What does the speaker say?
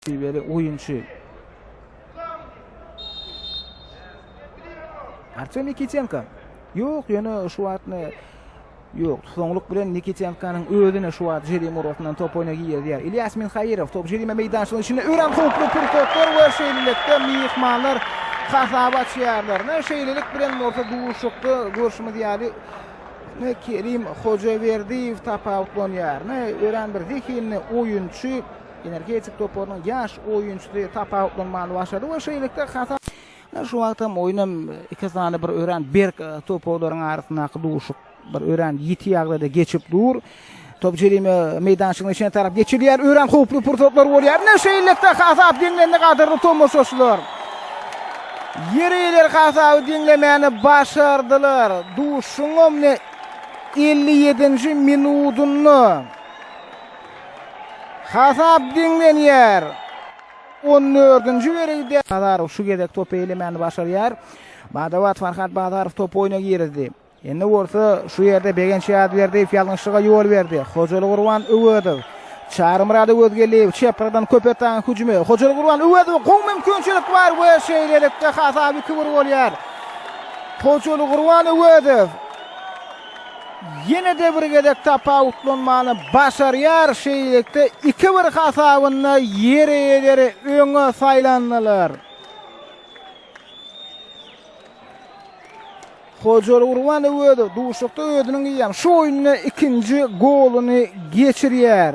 Şiweli oýunçy. Artyom Nikitenko. Ýok, ýöne şu wagt Ýok, soňluk bilen Nikitenkanyň özüne şu wagt jerime orasyndan top oýna girýär. Ilýas Minhaýerow top jerime meýdançasynyň içinde örän howply pursatlar we şeýlelikde myhmanlar hasap açýarlar. Men şeýlelik bilen bolsa duşuşykda görşümiz ýaly ne Kerim Hojaberdiýew tapawutlanýar. Ne örän bir zehinli oýunçy. Energetik toparynyň ýaş oýunçysy tapawutlanmany başardy we şeýlelikde hasap. Ine, şu wagtam oýun hem iki sany bir örän berk topawlaryň arasyndaky duşuk bir örän ýiti ýagdaýda geçip dur. Top jerime meýdançygynyň içine tarap geçirilýär. Örän howply pursatlar bolýar. Ine, şeýlelikde hasap deňlendi, gadyrly tomaşaçylar. Ýerliler hasaby deňlemäni başardylar. Duşuşygyň 57-nji minudynda. Hasap deňlenýär. On dördünji bölügde Bazarow şu gezek topy eýlemäni başarýar. Bada-bat Farhat Bazarow topy oýna girizdi. Indi bolsa şu ýerde Begenç Ýazberdiýew ýalňyşlyga ýol berdi. Hojaly Gurban Öwezow, Çarymyrat Öwezgeldiýew çepreden Köpetdagyň hüjümi. Hojaly Gurban Öwezowa gowy mümkinçilik bar we şeýlelikde hasap iki-bir bolýar. Hojaly Gurban Öwezow ýene-de bir gezek tapawutlanmany başarýar, şeýlelikde, iki-bir hasabynda ýeri ýeleri öňe saýlandylar. Hojaly Gurban Öwezow duşuşykda özüniň eýýäm şu oýunda ikinji goluny geçirýär.